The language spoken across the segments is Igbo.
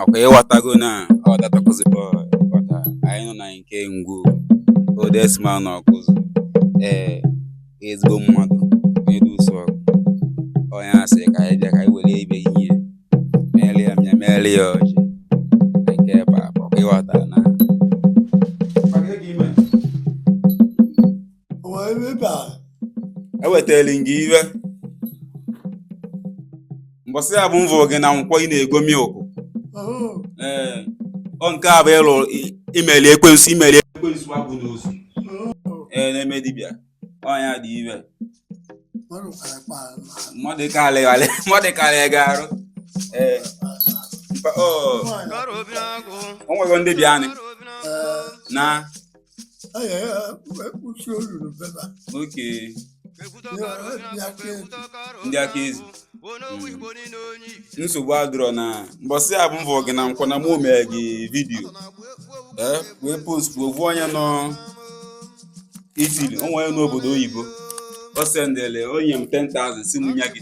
ọkwa ịghọtago na ọ datakụzi bọọlụ ịghọta anyị nọ na nke ngwu oldest man na Ọkụzụ ee ezigbo mmadụ onye dị ụsọ ọgụ onye asị ka anyị bịa ka anyị were ibe ihe meere ya mmịa meere ya ọjị na nke ebe a bụ ịghọta na ewetara gị ive mbọsị avụ m vụ gị na Nkwọ ị na-ego milk ee ọ nke a bụ ịlụ imeli ekwensu imeli ekwensu abụ n'ozu ee na-eme dibịa ọnya dị ive mmadụ karịgharị mmadụ karịa gị arụ ee o nwego ndị bịa anyị na anyị ekpuchi olulu beba oke ndị aka ezi nsogbu adịrọ na mbọsị avụ m vụ gị na Nkwọ na mụ mee gị vidiyo ee wee postụ ovu onye nọ Italy o nwe onye n'obodo oyibo o sendele onye m 10,000 sị m nye gị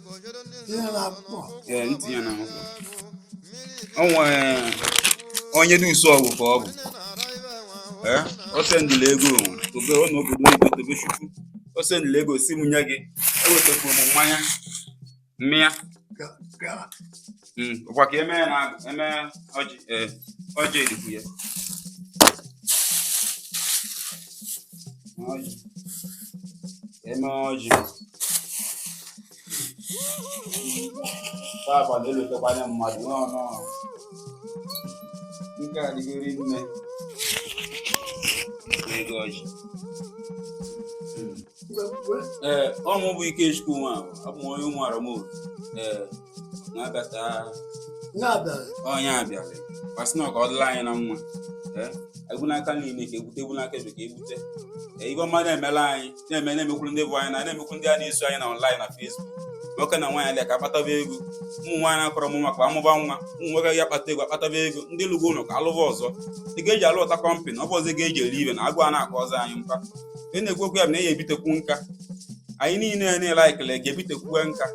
ihe na-akpọ ee ntinye na akwụkwọ o nwere onye dị ụsọ ọgwụ ka ọ bụ ee o sendịla ego o nwe Tobe nọ n'obodo oyibo Tobechukwu o sendịla ego sị m nye gị ewetakwuru m mmanya mmịa ka ka Mm, ọkwa ka eme na eme ọjị eh, ọjị erikwu ya ọjị eme ọjị taa abalị elotekwanye mmadụ nọ nọ nke a dịgori nne ego ọjị ee ọ mụ bụ Ikechukwu nwa abụ m onye ụmụara m obi ee na-abịata onye abịara kwasị na ka ọ dịla anyị na mma ee egbu n'aka nri ka egbute egbu n'aka ekpe ka egbute ee ive ọma na-emela anyị na-eme na-emekwuru ndị be anyị na na-emekwuru ndị a na-eso anyị na online na Facebook nwoke na nwaanyị alịa ka akpataba ego ụmụ nwaanyị na-akọrọ m maka amụba nwa ụmụ nwoke ya akpata ego akpataba ego ndị lụgo ụlọ ka alụba ọzọ ị ga-eji alụta kọmpanị ọ bụ ụzọ ga-eji eri ive na agụ a na-akọ ọzọ anyị mkpa e na-ekwu okwu ya bụ na ya ebitekwu nka anyị niile ya na-ele anyị kelee ga-ebitekwuwe nka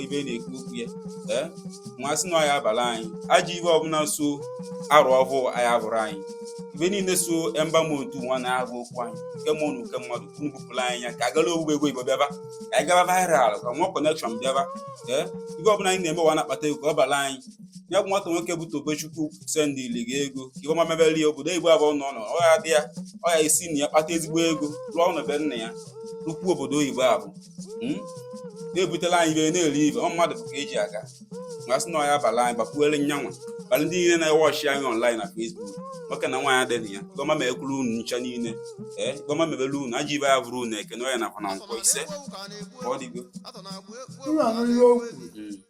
ibe e na-ekwu okwu ya ee nwa sị na ọya abalị anyị ajọ ive ọbụla so arụ ọhụụ anyị abụrụ anyị ive niile so emba m otu nwa na-agụ okwu anyị nke mmụọ na nke mmadụ ka unu bupụrụ anyị ya ka agala owuwe ego igbo bịaba ka anyị gaba viral ka nwa connection bịaba ee ive ọbụla anyị na-eme wa na-akpata ego ọ bara anyị ya bụ nwata nwoke bụ Tobechukwu sendili gị ego ka ive ọma mebeli obodo igbo ebe ọbụna ọ nọ ọ ya-adị ya ọ ya-esi na ya kpata ezigbo ego rụọ ụnọ be nna ya rụkwuo obodo oyibo abụ hmm? na-ebutela anyị ive a na-eri ebe ọ mmadụ ka eji aga ma sị na ọya abala anyị gbakwuere nyanwa kpalị ndị niile na-ewọchi anyị ọnlaịn na fesbuk nwoke na nwaanyị adịghị na ya ive ọma mekwuru unu ncha niile ee ive ọma mebele unu ajọ ive ya bụrụ unu eke na oye na avọ na nkwọ ise ka ọ dịgo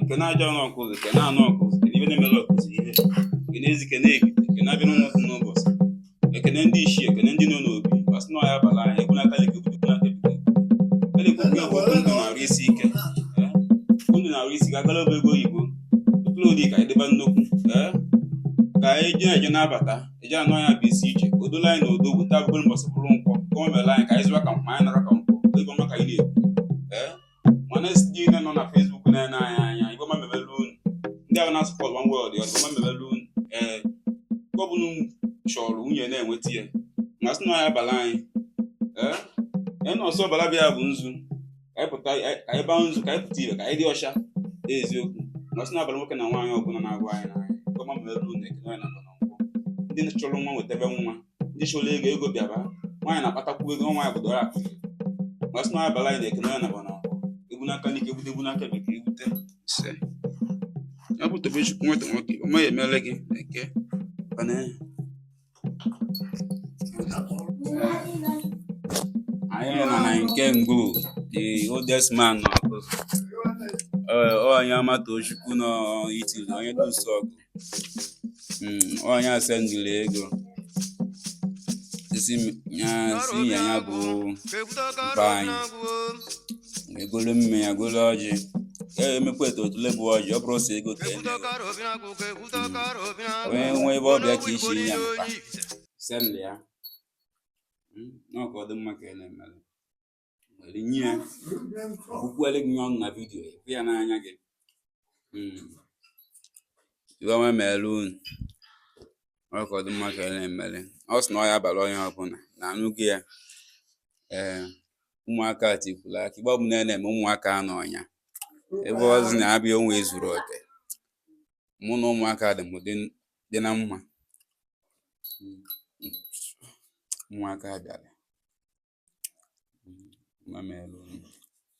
ekene ajana ọkụzụ ekene ana ọkụzụ ekene ive na-emere ọkụzụ ive ekene ezi ekene ivite ekene abịa n'ụlọ ọkụ n'ụbọchị ekene ndị ichie ekene ndị nọ n'obi ma sị na ọya abala anyị ekwu n'aka leke obodo ekwu n'aka ebudo a na-ekwu nke bụ ndụ na arụ isi ike ee ndụ na arụ isi ike agala obe ego oyibo ụtụrụ ụdị ka anyị dịba nnukwu ee ka anyị ji na-eje na-abata eji anụ anya bụ isi ichie o dola anyị na odo weta abụbụrụ mbọsị bụrụ nkwọ ka o mere anyị ka anyị zụwa ka mkpa anyị nara ka nkwọ ive ọma ka anyị na-ekwu ee mana e sị ndị niile nọ na fesbuk na-ene anyị anya ive ọma mebelu unu ndị ahụ na-asụpọt one world ya ọ dị mma mebelu unu ee ọbụna chọrọ nwunye na-enweta ya ma sị na ọya abala anyị ee enọsọ ọbara bịa bụ nzu ka anyị pụta anyị- ka anyị baa nzu ka anyị pụta ive ka anyị dị ọcha eziokwu ma sị na ọya abala nwoke na nwaanyị ọbụla na-avụ anyị n'anya ive ọma mere unu eke na oye na avọ na nkwọ ndị chọrọ nwa nwetebe nwa ndị chọrọ ego ego bịaba nwaanyị na-akpatakwu ego nwaanyị bụ odozi akụ ma sị na ọya abala anyị na eke na oye na avọ na nkwọ egbu n'aka n'ike egbute egbu n'aka bekee egbute ise ya bụ tobechukwu nweta nwoke ọ maghị emele gị eke ọ na-enye anyị nọ na nke ngụ the oldest man nọ ọgụ Ee, ọ onye ọma tochukwu nọ italy onye dusu ọgụ Mm, ọ nya sendịrị ego isi m- ya si ya ya bụ mkpa anyị e golo mmanya golo ọjị ya emekwa eto otule bụ ọjị ọ bụrụ sọ ego ka e mere. onye nwe ebe ọbịa ka isi ya mkpa sendị ya hmm, na ọ ka ọ dị mma ka ị na-emere were nye ya ọkwukwere gị ọnụ na vidiyo ya ya n'anya gị hmm. ive ọma mere unu ọ ka ọ dị mma ka ị na-emere ọ sị na ọya abala onye ọbụla na-anụ gị ya ee eh, ụmụaka tikwuru aka ive ọbụla na-eme ụmụaka anọ ọnya ebe ọzi na-abịa onwe ezuru oke mụ na ụmụaka dị m dị dị na mma ụmụaka bịara mma m elu